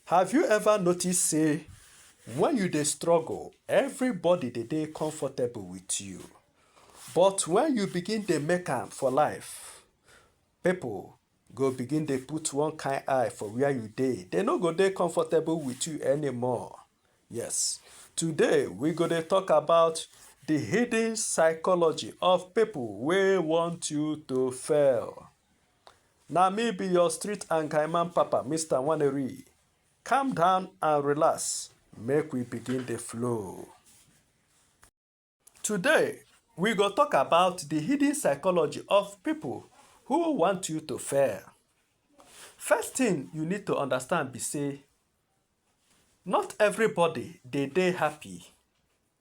Have you ever noticed say when you dey struggle, everybody dey dey comfortable with you. But when you begin dey make am for life, people go begin dey put one kind eye for where you dey. They no go dey comfortable with you anymore. Yes, today we go dey talk about the hidden psychology of people wey want you to fail. Na me be your street and Kaiman papa, Mr. Waneri. Calm down and relax, make we begin the flow. Today, we go talk about the hidden psychology of people who want you to fail. First thing you need to understand be say, not everybody they dey happy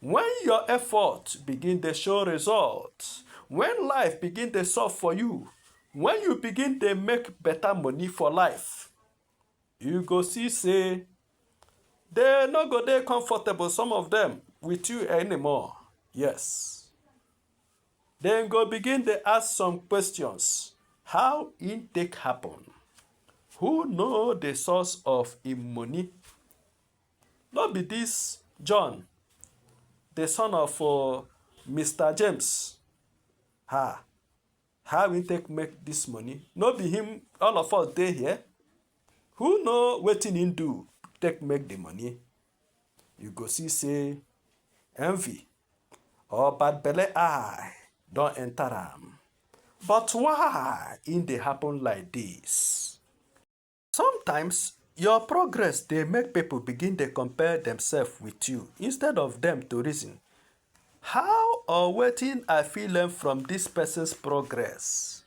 When your effort begin dey show result, when life begin dey soft for you, when you begin dey make better money for life, you go see say they no go dey comfortable, some of them, with you anymore. Yes. They go begin dey ask some questions. How e take happen? Who know the source of im money? No be dis John, the son of uh, Mr. James? Ha! How we take make this money? No be him, all of us dey here. Who know wetin him do take make the money? You go see say envy or bad belle eye don enter am. But why e dey happen like this? Sometimes, your progress dey make people begin dey compare themselves with you instead of them to reason, how or wetin I fit learn from this person's progress?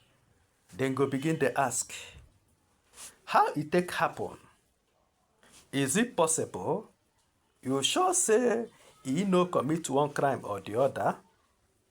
Dem go begin dey ask, how e take happen? Is it possible? You sure say e no commit one crime or the other?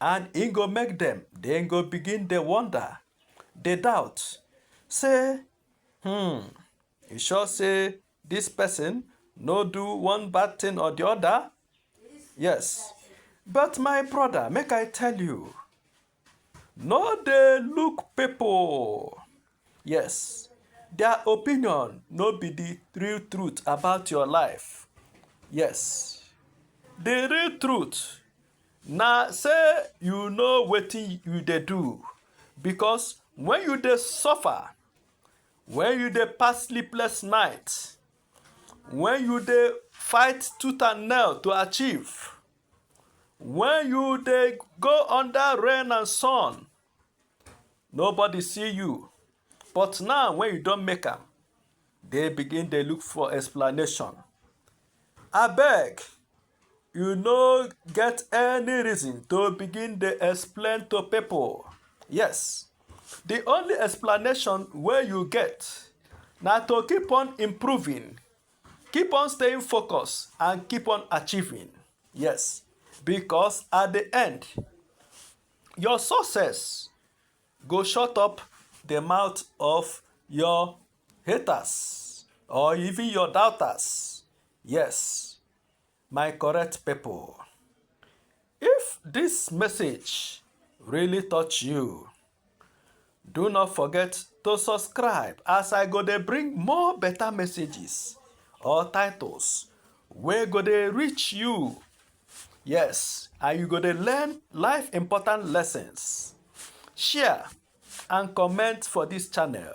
And e go make dem, dem go begin dey wonder, dey doubt, say, Hmm, you sure say this person no do one bad thing or the other? Yes. But my brother, make I tell you, no dey look people. Yes, their opinion no be the real truth about your life. Yes, the real truth Na sey you know wetin you dey do because when you dey suffer, when you dey pass sleepless night, when you dey fight tooth and nail to achieve, when you dey go under rain and sun, nobody see you but now when you don make am, dey begin dey look for explanation. Abeg! You no get any reason to begin dey explain to people. Yes, the only explanation wey you get na to keep on improving, keep on staying focused and keep on achieving. Yes, because at the end, your success go shut up the mouth of your haters or even your doubters. Yes. My correct people, if this message really touch you, do not forget to subscribe as I go to bring more better messages or titles where go they reach you. Yes, and you go to learn life important lessons. Share and comment for this channel.